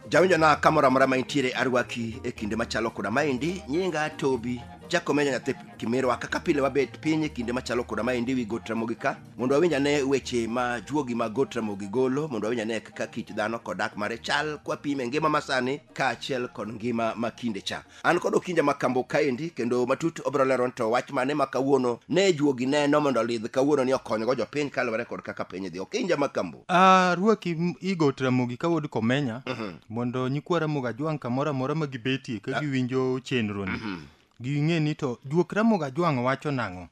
jawinjona kamoro amora ma intiere arwaki e kinde machalo koda maendi nyinga tobi jakomenya nyathi kimirwa kaka pile wabet piny e kinde machalo koda maendi wi got ramogi ka mondo wawinj ane weche ma juogi mag got ramogi golo mondo wawinj ane kaka kit dhano kod dak mare chal kwapime ngima masani kaachiel kod ngima ma kinde cha an kod okinja ma kambo kaendi kendo matut obiro lero ni to wach mane ma kawuono ne juogi neno mondo olidh kawuono ni okonygo jopiny kaluwore kod kaka piny dhi okinja ma kambo Ah, ruaki m- igot ramogi ka wuod komenya mondo nyikwa ramogi ajwang' kamoro amora ma gibetie ka giwinjo chenroni ging'e ni to juok ramoga jwang' wacho nang'o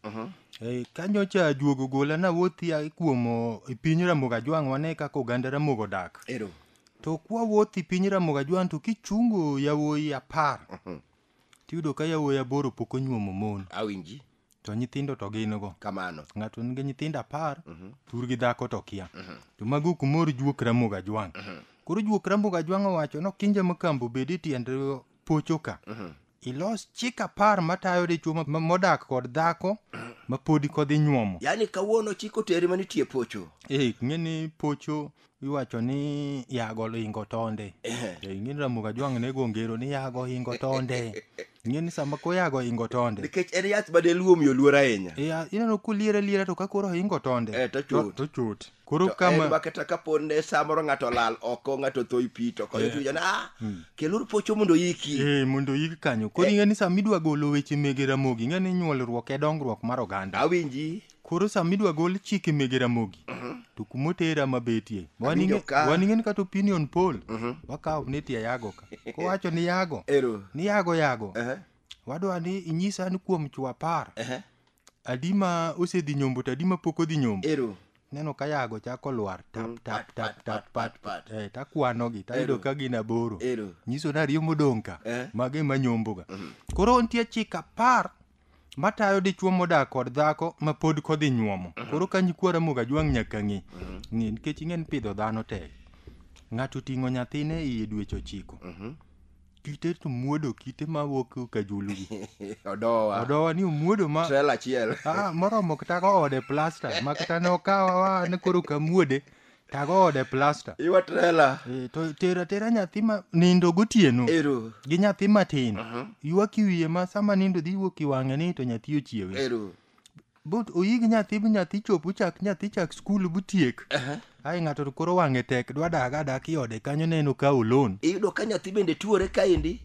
Eh, kanyo cha juogo gola na wuothi a kuom o, e piny ramoga jwang' wane kaka oganda ramogo dak ero to kwa wuothi piny ramoga jwang' to kichungo yawuoyi apar tiyudo ka yawuoyi aboro pok onyuomo mon awinji to nyithindo to gin go kamano ng'ato nigi nyithindo apar thurgi dhako to kia to mago kumor juok ramoga jwang' koro juok ramoga jwang' owacho no kinja makambo bed e tiend pocho ka ilos chik apar matayo dichwo ma- ma- modak kod dhako ma podi kodhi nyuomo yaani kawuono chik oteri manitie pocho e ng'eni pocho iwacho ni yago ohingo tonde Ehe. e ng'eni ramuga jwang' ne gongero ni yago ohingo tonde ng'eni sama koyago ohingo tonde nikech en yath ma deluo omiyo luor ahinya e, a- ineno koliere liera to ka koro ohingo tonde Eh, to chut. to chut koro To en kama ma kata kapo ne samoro ng'ato olal oko ng'ato tho i pi to koyo Eh. tuja na ah, Mm. keluru pocho mondo yiki eh, mondo yik kanyo koro Eh. ing'e ni sama idwa golo weche mege ramogi ing'e ni nyuolruok e dongruok mar oganda awinji koro sama idwa gol chike mege ramogi to kuma otera mabetie Awinjo ka. wan ing'e ni kata opinion poll Mhm. wakawo ni tie yago ka kowacho ni yago ero ni yago yago Ehe. wadwa ni inyisa an kuom chwo apar Ehe. adi ma osedhi nyombo to adi ma pok odhi nyombo ero neno ka yago chako lwar tap tap tap tap pat pat eh, takwanogi tayudo ka gin aboro ero nyiso ni ariyo modong' ka Eh. mago ema nyomboga koro nitie chik apar matayo dichwo modak kod dhako ma pod kodhi nyuomo koro ka nyikwa ramoga jwang' nyaka ng'e ng'e nikech ing'e ni pidho dhano tek ng'ato oting'o nyathine iye dweche ochiko kite to muodo kite ma wuok ka julu gi odowa odowa ni omuodo ma trela achiel ah, moromo kata go ode plasta ma kata ne okawa wa ni koro kamuode tago ode plasta iwa trela Eh, to tero atera nyathi ma nindo gotieno ero gi nyathi matin ywak iwiye ma sama nindo dhi wuok iwang'e ni to nyathi ochiewe ero but uyig nyathi bi nyathi chop uchak nyathi chak skul butiek Aha. ai ng'ato to koro wang'e tek dwa dag adak i ode kanyo neno ka olon iyudo ka nyathi bende tuore kaendi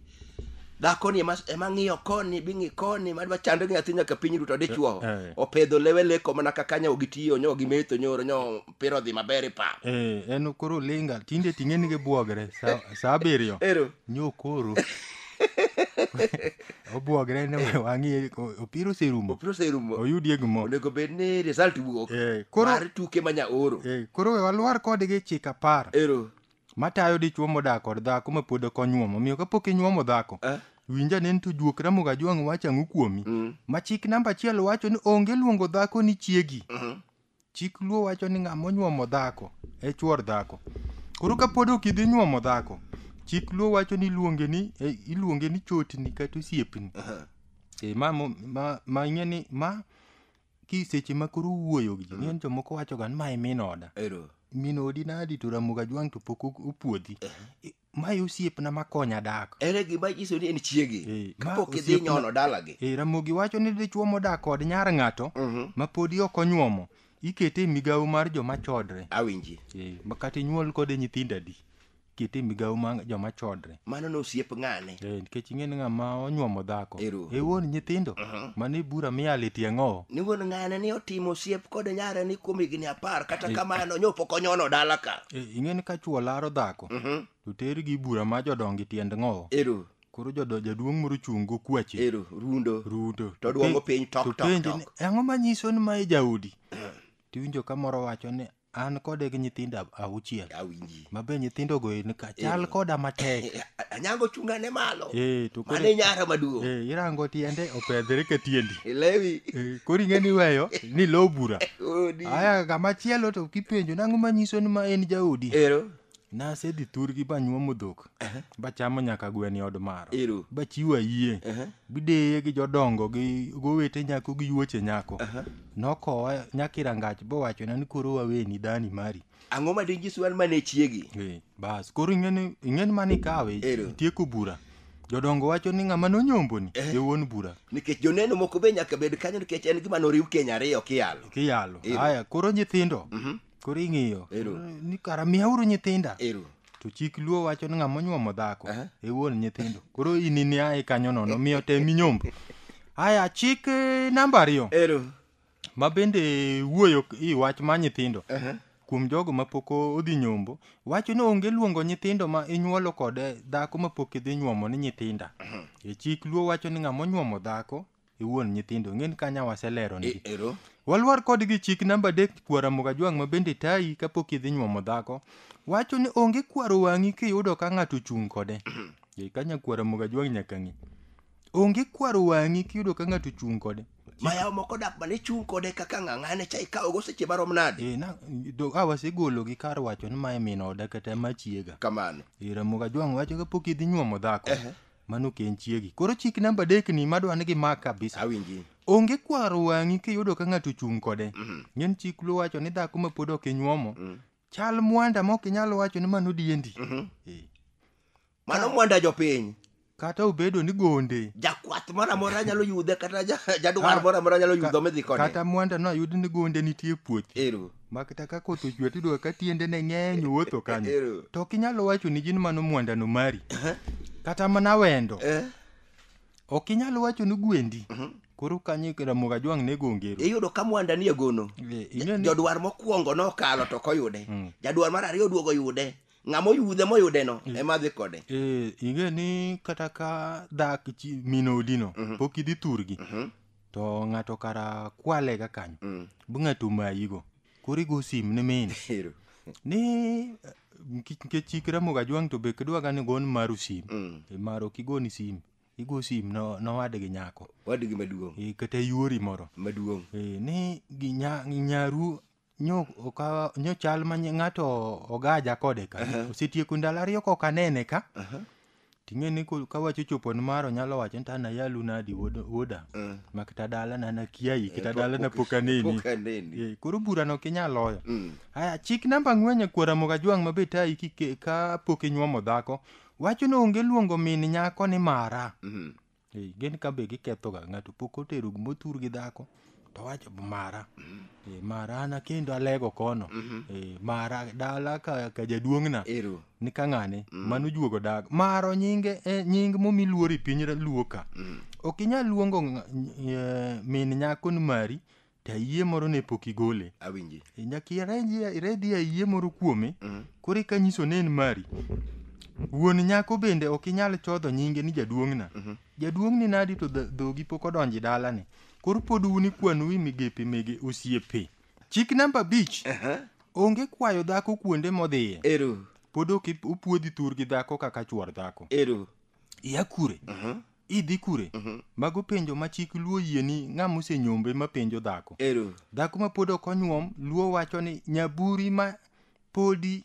dhakoni ema ema ng'iyo koni bing'i koni madwa chando gi nyathi nyaka piny duto dichuo Eh, eh. opedho lewe leko mana kaka nyawo gi tiyo nyawo gi metho nyoro nyawo opira odhi maber e pap Eh, en koro linga tinde ting'e ni gibuogre sa sa abiriyo ero nyo koro obuogre ne we wang'i o- opira oserumo opira oserumo oyudie gimoro onego bed ni result wuok Eh, koro- mar tuke ma nyaoro Eh, koro we walwar kodgi chik apar ero matayo dichwo modak kod dhako ma pod ok onyuomo omiyo kapok inyuomo dhako Ah. winja ne to juok ramogo ajwang' wacho ang'o kuomi Mm. ma chik namba achiel wacho ni onge luongo dhako ni chiegi Mhm. Chik luo wacho ni ng'ama onyuomo dhako e chuor dhako. Koro ka pod ok idhi nyuomo dhako, chik luo wacho ni iluonge ni eh, iluonge ni chotni kata osiepni. Aha. E, ma, mo- ma, ma ing'e ni ma ki seche ma koro wuoyo gi ji, ng'eny jomoko wachoga ni ma e min oda. Ero. Min odi nadi to Ramogi Ajwang' to pok o- opuodhi. I- ma e osiepna ma konya dak en e gima nyiso ni en chiegi Eh, ma kapok idhi osiepna- nyono dalagi e ramogi wacho ni dichwo modak kod nyar ng'ato Mhm. ma podi ok onyuomo ikete e migawo mar joma chodre awinji e, ma kata inyuol kode nyithindo adi ikete e migawo mar joma chodre mano ne osiep ng'ane e, nikech ing'e ni ng'ama onyuomo dhako Ero. e wuon nyithindo Mhm. mano e bura miyalo e tie ng'owo ni wuon ng'ane ni otimo osiep kod nyare ni kuom higni apar kata kamano nyopo konyono dala ka e, ing'e ni ka chwo laro dhako osetho Mhm. to tergi bura ma jodongi tiend ng'owo Ero, koro jodo- jaduong' moro chung' go kwache ero, rundo. ruto To dwongo piny tok, to tok, penje tok. ni, "E ang'o manyiso ni mae jaodi tiwinjo ka moro wacho ni an kode gi nyithindo ab- auchiel Awinji. mabe nyithindogo en ka chal koda matek Anyango chunga ne malo. Eh, to koro- Mano e nyara maduong'. Eh, irango tiende opedhre ka tiendi Ilewi. Eh, koro ing'e ni weyo ni lo bura Odi. aya kamachielo to kipenjo nang'o manyiso ni ma en jaodi Ero. Nasedhi thurgi banyuomo dhok bachamo nyaka gweno e od maro. Ero. Bachiwo ayie. Bideye gi jodongo gi gowete nyako gi yuoche nyako. Nokowa nyaka e rangach bowachona ni koro waweni dhani mari. Ang'o ma dinyiswa an mane chiegi? Eh, Bas koro ing'eni ing'eni mani kawe Ero. itieko bura. Jodongo wacho ni ng'ama nonyomboni e wuon bura. Nikech joneno moko be nyaka bed kanyo nikech en gima noriw keny ariyo kiyalo. Kiyalo. Ero. Haya koro nyithindo Koro ing'iyo. Ero. Ni kara miyauru nyithinda. Ero. To chik luo wacho ni ng'ama onyuomo dhako Aha. e wuon nyithindo. Koro in ni ae kanyo nono miyo te minyombo. Aya chik eh, namba ariyo Ero. ma bende wuoyo k- i wach ma nyithindo. Aha. Kuom jogo ma pok o- odhi nyombo, wacho ni onge luongo nyithindo ma inyuolo kod eh, dhako ma pok idhi nyuomo ni nyithinda. E chik luo wacho ni ng'ama onyuomo dhako iwuon nyithindo ng'eni kanya waselero ni ero walwar kodgi chik namba adek kwara mugajwang' ma bende tayi kapok idhi nyuomo dhako wacho ni onge kwaro wang'i kiyudo ka ng'ato ochung' kode Ei, kanya kwara mugajwang' nyaka ng'i onge kwaro wang'i kiyudo ka ng'ato ochung' kode mayawo moko dak mane chung' kode kaka ng'ang'ane cha ikawogo seche marom nade Eh, na- do- a wasegolo gi kar wacho ni mae min oda kata ma chiega kamano Eh, Ramogi Ajwang' wacho kapok idhi nyuomo dhako Ehe. mano ken chiegi koro chik namba adek ni madwa ni gimak kabisa awinji onge kwaro wang'i kiyudo ka ng'ato ochung' kode Mhm. ng'en chik luo wacho ni dhako ma pod ok inyuomo Mm. chal mwanda ma ok inyal wacho ni mano diendi Mhm. Eh, mano mwanda jopiny kata obedo ni gonde jakwath moro amora nyalo yude kata ja- jadwar Ah, moro amora nyalo yudo midhi kode kata mwanda no ayud ni gonde nitie puothi ero Makta ka koth ochwe to iyudo ka tiendene ng'eny wuotho kanyo. Ero. To ok inyal wacho ni gin mano mwandano mari. Kata mana wendo. Eh, Ok inyal wacho ni gwendi. Koro kanyo Ramogi Ajwang' ne gongero. iyudo ka mwanda ni egono Eh, ing'e ni- jodwar mokwongo nokalo to koyude Mm. jadwar mar ariyo oduogo yude ng'ama oyudhe moyudeno ema dhi kode Eh, ing'e ni kata ka dak chi- min odino pok idhi thurgi to ng'ato kara kwale ga kanyo mm. bu ng'ato omayigo koro igo sim ne min ni nikech chik ramoga jwang' to be kidwaga ni gon maru sim mm. e maro kigoni sim igo sim no nowadgi nyako wadgi maduong' e, kata yuori moro maduong' e, ni nyaru nyo okawa nyo chal ma ny- ng'ato ogaja kode ka osetieko ndalo ariyo kok anene ka ting'e ni ko- ka wacho chopo ni maro nyalo wacho ni to ana yalu nadi wuod- wuoda mak ta dala na nakiayi kata dala na pok aneni Pok aneni. Eh, koro burano ok inyal loyo Mm. aya chik namba ang'wen e kuora mogajwang' ma be tayi kike- ka pok inyuomo dhako wacho ni onge luongo min nyako ni mara Mhm. Eh, gin ka be giketho ga ng'ato pok otero motur gi dhako to wacho mara Eh, mara an akendo alego kono Eh, mara dala ka, ka jaduong'na Ero. ni ka ng'ane mano juogo dago maro nyinge eh, nying momi luori piny ra- luo ka ok inyal luongo ng'a- eh, min nyako ni mari to ayie moro ne pok igole awinji E, nyaka iredhie- iredhie ayie moro kuome Mm. koro eka nyiso ni en mari wuon nyako bende ok inyal chodho nyinge ni jaduong'na Mhm. jaduong'ni nadi to dho- dhogi pok odonji dalani koro pod un ikwanu wi migepe mege osiepe chik namba abich Aha. onge kwayo dhako kuonde modhiye ero pod ok ip- opuodhi thur gi dhako kaka chuor dhako ero iya kure Mhm. idhi kure mago penjo ma chik luo yie ni ng'ama osenyombe ma penjo dhako ero dhako ma pod ok onyuom luo wacho ni nyaburi ma podi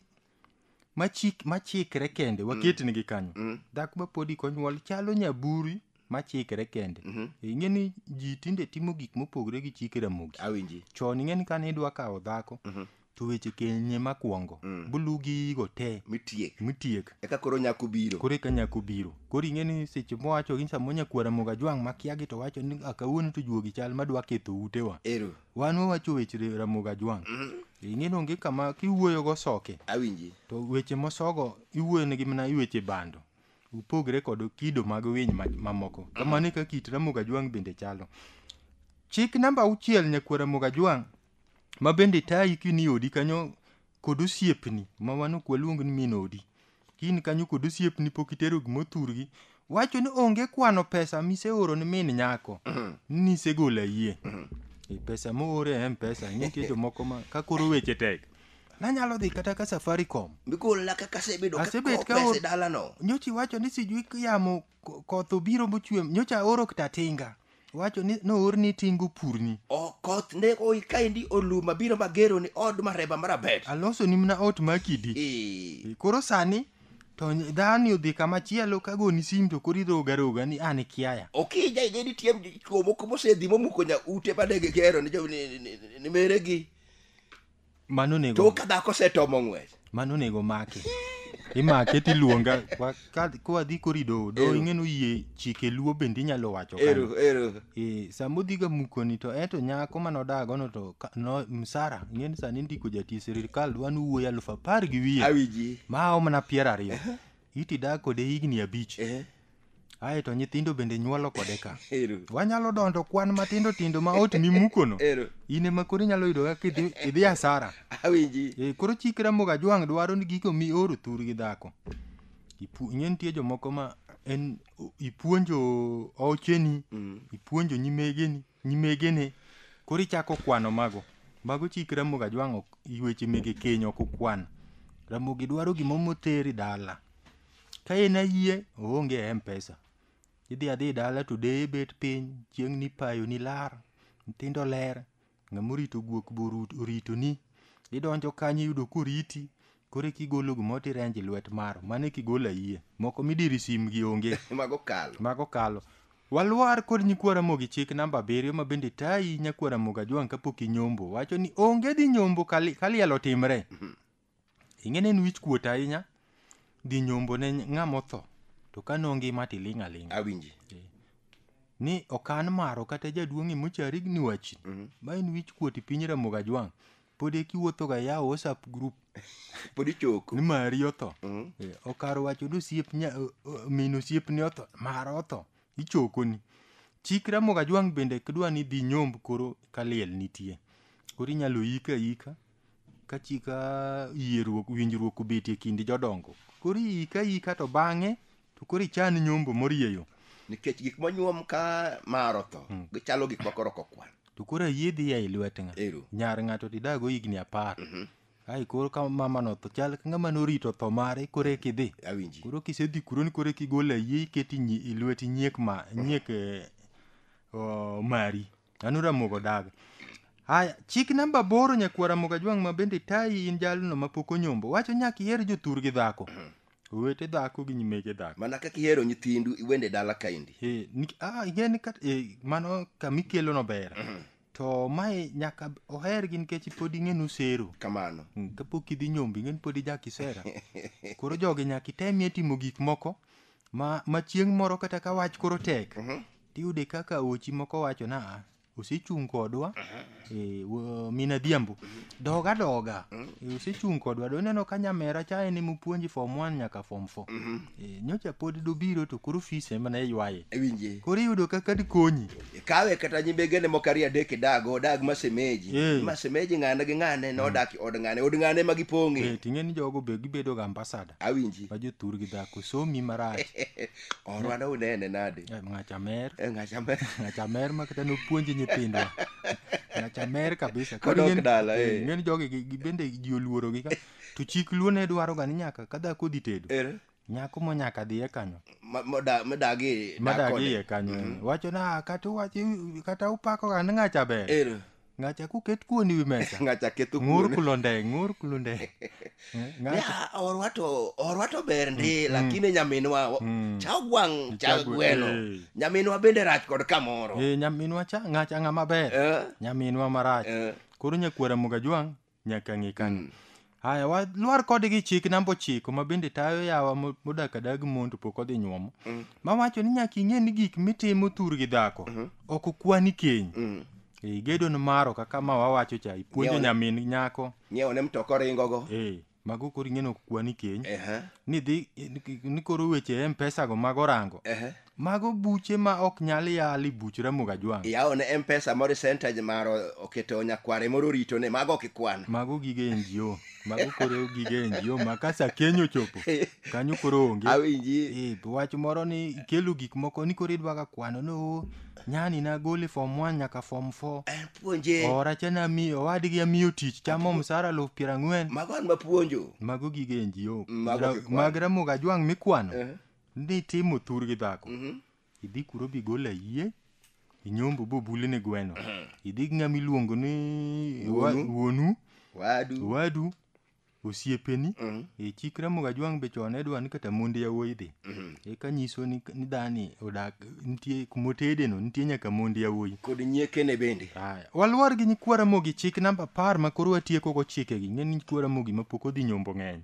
machik machikre kende waketnigi kanyo Mm. dhako ma podi konyuol chalo nyaburi machikre kende Mhm. ing'e ni ji tinde timo gik mopogre gi chike ramogi awinji chon ing'e ni kane idwa kawo dhako Mhm. to weche kenye makwongo mm. bulu gigo te mitiek mitiek eka koro nyako biro koro eka nyako biro koro ing'e ni seche mowacho gi samo nyakwara moga jwang' makiagi to wacho ni akawuono to juogi chal madwa ketho utewa ero wan wawacho weche ramoga jwang' mm -hmm. ing'e ni onge kama kiwuoyo go soke awinji to weche mosogo iwuoyo negi mana iweche bando upogre kod kido mag winy mamoko mm -hmm. kamano e ka kit ramoga jwang' bende chalo chik namba auchiel nyakwara moga jwang' ma bende tayi kini e odi kanyo kod osiepni ma wan ok waluong ni min odi kini kanyo kod osiepni pok itero gima othurgi wacho ni onge kwano pesa miseoro ni min nyako ni isegolo ayie E pesa moore e mpesa nitie jomoko ma ka koro weche tek nanyalo dhi kata ka safaricom Bigolna kaka asebedo Asebet ka kasebedo ka kaor- pesa e dalano. nyocha iwacho ni sijui yamo Ko- koth obiro mochwe nyocha aoro kta tinga wacho ni noorni tingo purni O koth ne oi kaendi oluma biro magero ni od mareba marabet. aloso ni mna ot makidi Eh, E, koro sani to ny- dhani odhi kama chielo kagoni sim to koro iroga roga ni an kiaya Okija ije ni tiem chuo moko mosedhi momuko nya ute badege gero ni jo ni- ni- ni- ni meregi. mano onego to ka dhako osetomo ng'wech mano onego make imake tiluonga Wa- ka- kwadhi kori doho doho Ero. ing'eno yie chike luo bende inyalo wacho kanyo. ero ero Eh, sama odhiga mukoni to eto nyako mane odagono to ka- no- msara ing'eni sani ndiko jatie sirikal dwa ni wuoyi alufu apar gi wiye awiji ma omna piero ariyo iti dak kode higni abich Eh, ae to nyithindo bende nyuolo kode ka ero wanyalo dondo kwan matindo tindo ma ot mimukono ero in ema koro inyalo yudo kaka idhi- idhi asara awinji e, koro chik ramogi ajwang' dwaro ni gigo mi oro thur gi dhako Ipu- ing'e nitie jomoko ma en ipuonjo ocheni Mm. ipuonjo nyimegeni Nyimege ne koro ichako kwano mago. Mago chik Ramogi Ajwang' ok weche mege keny ok okwan. Ramogi dwaro gimoro moteri dala. Ka en ayie, oonge e M-Pesa. Idhi adhi dala to deye bet piny, chieng' nipayo nilar, nyithindo ler, ng'ama orito guok be orito ni. Idonjo kanyo iyudo koriti, Koro eki igolo gimoro to irenjo e lwet maro. Mano eki igolo ayie. Moko midiri sim gi onge. Mago kalo. Mago kalo. Walwar kod nyikwa Ramogi chik namba abiriyo ma bende tayi nyakwa Ramogi Ajwang' kapok inyombo. Wacho ni onge dhi nyombo ka li- ka liel otimre. Ing'e ni en wich kuot ahinya dhi nyombo ne ng'ama otho. To ka nongima to iling' aling'a. Awinji. ni okan maro kata jaduong' e mochari ni wachi ma en wich kuot e piny Ramogi Ajwang' pod eki wuothoga yawo whatsapp group pod ichoko ni mari otho Mm. Eh, okar wacho ni osiep nya- o- o- min osiepni otho mara otho ichokoni chik ramoga jwang' bende kidwa ni dhi nyomb koro kaliel nitie koro inyalo yika yika ka chika yieruok winjruok obetie kind jodongo koro iyika yika to bang'e to koro ichan nyombo morieyo nikech gik monyuom ka mar otho mm. gichalo gik makoro kokwan to koro ayiedhi ya e lwet nga nyar ng'ato tidago higni apar mm -hmm. ai koro ka mama no to chal ka ng'ama norito tho mare koro eki dhi awinji koro kisedhi kuro ni koro eki gol ayie iketi ilweti nyiek ma nyiek eh, mari An Ramogo Daga. Haya, chik namba aboro nyakwar Ramogo Ajwang' ma bende tayi in jalno ma pok onyombo wacho nyaka iher jothur gi dhako. Owete dhako gi nyimege dhako. mana kaka ihero nyithindu iwende dala kaendi Eh, nik- ah, ing'e ni kat- eh, mano kama ikelono ber. To mae nyaka ohergi nikech pod ing'e ni usero. kamano Mm, kapok idhi nyombi ing'e ni pod ija kisera koro jogi nyaka itemie timo gik moko ma, ma chieng' moro kata ka wach koro tek tiyude kaka ochi moko wacho na a osechung' kodwa e, wo- min adhiambo doga doga e, osechung' kodwa do ineno ka nyamera cha en emupuonji form 1 nyaka form 4 e, nyocha pod dobiro to koro fis ema ne ywaye ewinje koro iyudo kaka dikonyi kawe kata nyimbegene moko ariyo adek idago odag masemeji Eh. masemeji ng'ane gi ng'ane nodak i od ng'ane od ng'ane ma gipong'e e, ting'e ni jogo be gibedo ga ambasada awinji ma jothur gi dhako somi marach orwa ne unene nade Eh, ng'acha mer e ng'acha me ng'acha mer ma kata nopuonji nyithindwa ng'acha mer kabisa Koro Kodok ing'eni- dala, eh, eh. ing'eni jogi gi- gi- bende ji oluorogi ka to chik luo ne dwaro ga ni nyaka ka dhako dhi tedo Ere? nyako mo nyaka dhiye kanyo Ma- moda- modagi madagi dakone. iye kanyo wacho na kata uwachi kata upako ga ni ng'acha ber Ere. ngacha kuket kuon iwi mesa ngacha ketho ng'ur kuon kulo ndeng ng'ur kulo ndeng Eh, ngacha Ya, orwa to orwa to ber ndi lakini nyaminwa o- Mm. cha gwang cha Chagwe- gweno eh. nyaminwa bende rach kod kamoro Eh, nyaminwa cha ngacha ng'a maber Eh, nyaminwa marach eh. koro nyakwara mugajwang nyaka ng'e kanyo Mm. haya walwar kodgi chik namba ochiko ma bende tayo yawa mo- modak adag mon to pok odhi nyuomo Mm. mawacho ni nyaka ing'e ni gik mitimo thur gi dhako Mhm. ok okwani keny Mm. e gedo ni maro kaka ma wawacho cha ipuonjo Nyawa- nyamin nyako nyiewo ne mtoka oringogo e mago koro ing'e ni ok kwani keny Ehe, ni dhi ni koro weche mpesa go mag orango ehe. Mago buche ma ok nyal yali buch Ramogi Ajwang'. Iyawo ne Mpesa moro percentage maro oketo nyakware moro orito ne mago kikwano. Mago gige NGO. Mago koro gige NGO ma ka sa keny ochopo kanyo koro onge. Awinji. Eh, wach moro ni ikelo gik moko ni koro idwaga kwano ni oo nyani nagole form 1 nyaka form 4 Eh, Puonje. ora cha nami owadgi amiyo tich chamo msara luf piero ang'wen Mago an mapuonjo. mago gige NGO Mago Ra- kikwano. mag Ramogi Ajwang' mikwano Eh. ni timo thur gi dhako idhi kuro bigolo ayie inyombo bobuli ni gweno idhi gi ng'ama iluongo ni wa- Wuonu. wuonu wadu wadu osiepeni e chik ramoga jwang' be chon ne dwa ni kata monde yawuoyi dhi eka nyiso ni ni dhani odak nitie kumotedeno nitie nyaka monde yawuoyi kod nyiekene bende Aya, waluor gi nyikwa ramogi chik namba apar ma koro watieko go chikegi ng'e ni nyikwa ramogi ma pok odhi nyombo ng'eny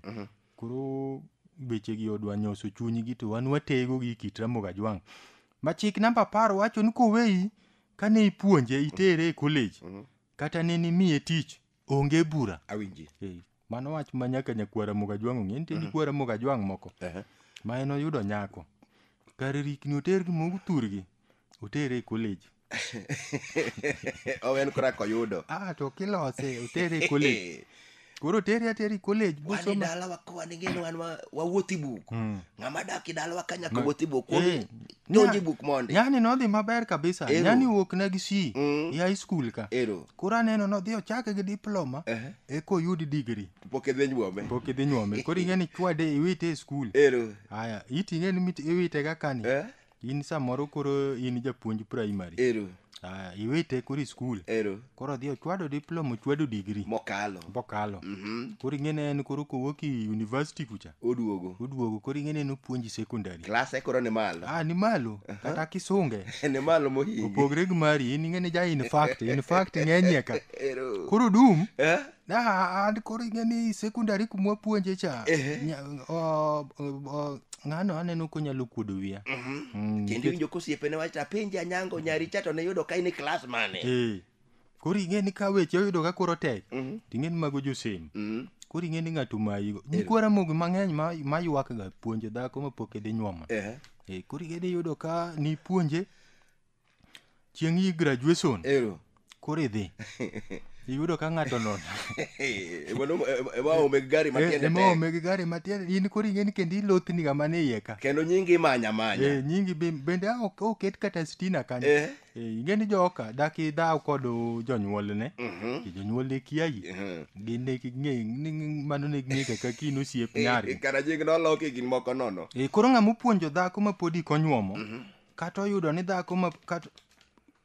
Koro wechegi odwa nyoso chunygi to wan watego gi kit Ramogi Ajwang'. Ma chik namba apar wacho ni koweyi kane ipuonje itere e college kata ne nimiye tich onge bura. Awinji. Eh, Mano wach ma nyaka nyakwar Ramogi Ajwang' ong'e nitie nyakwar Ramogi Ajwang' moko Ehe. ma en oyudo nyako kar rikni oter gi mogu thurgi Otere e college. Owe en kora koyudo. Ah, to kilose, otere e college. Koro otere ateri college Wan e bosoma. dalawa ka wan ing'eyo wan wa- wawuoth i buk. Mm. Ng'ama dak i dalawa ka nyaka Ma- wuoth i buk. Eh, Kuom donj i nya- buk mondi. Yani nodhi maber kabisa. Ero. Yani wuok na gi C Mm. e high school ka. Ero. Koro aneno nodhi ochake gi diploma Ehe. e koyud degree. Pok idhi nyuome. Pok idhi nyuome. Koro ing'e ni chwade iwite e school. Ero. Haya, iti ing'e ni mit- iwite ga kani. Eh? in samoro koro in japuonj primary ero Ah, iwite koro i skul ero koro odhi ochwado diploma ochwado digri mokalo bokalo Mhm. koro ing'ene en koro kowuok i university kucha oduogo oduogo koro ing'ene en opuonji secondary klase koro ni malo ah ni malo kata kisunge ni malo mohingi opogre gi mari in ing'ene ja in fact in fact ng'enyie ka ero koro dum Eh? na a- an koro ing'e ni sekondari kumwa puonje cha Ehe. nya- o- o- o- ng'ano aneno konyalo kuodo wiya Mhm. Mm, kendo iwinjo kosiepene wacho to apenje anyango nyari cha to ne yudo ka in e klas mane eh, koro ing'e ni ka weche oyudo ka koro tek Mhm. ting'e ni mago josem Mhm. koro ing'e ni ng'ato mayigo nyikwara mogi mang'eny ma- maywakga puonjo dhako mapok idhi nyuomo Ehe. Eh, koro ing'e ni yudo ka nipuonje chieng' yi graduation Ero. koro idhi iyudo ka ng'ato nono emaome gari matiende emaome gi gari matiende in koro ing'eni kendo ilothni ga mane iye ka kendo nyingi imanya manya Eh, nyingi be- bende a- ok- oket kata stina kanyo Eh. Eh, ing'eni joka dak idhaw kod jonyuolne Mhm. Ki jonyuolne kiayi Mhm. gin ne ging'e- ni- ni- mano ne ging'e kaka kin osiep nyargi kara nying noloki gin moko nono Eh, koro ng'ama opuonjo dhako ma podi konyuomo kata oyudo ni dhako ma kata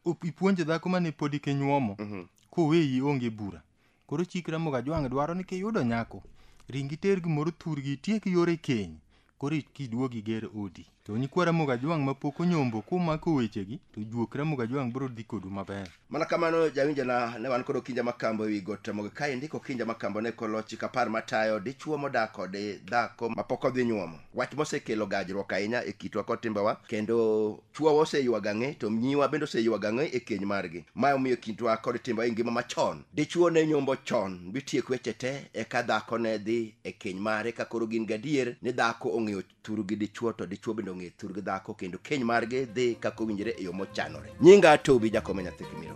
op- ipuonje dhako mane podi kinyuomo koweyi onge bura koro chik ramoga jwang' dwaro ni kiyudo nyako ringi ter gimoro thurgi itiek yore keny koro kiduogi ger odi to nyikwa ramoga jwang' mapok onyombo kumako wechegi to juok ramoga jwang' biro dhi kodu maber mana kamano jawinjona ne wan kod okinja makambo ewi got mogo kae ndiko okinja makambo ne kolo chik apar matayo dichuo modak kod dhako mapok odhi nyuomo wach mosekelo gajruok ahinya e kitwa kod timbewa kendo chuowa oseywago ang'e to nyiwa bende oseywago ang'e e keny margi ma omiyo kitwa kod timbewa e ngima machon dichuo ne nyombo chon bitiek weche te eka dhako ne dhi e keny mare ka koro gin gadier ni dhako ong'eyo thuru gi dichwo to dichwo bende ong'e thuru gi dhako kendo keny margi dhi kaka owinjore e yo mochanore nyinga tobi jakome nyathi kimiro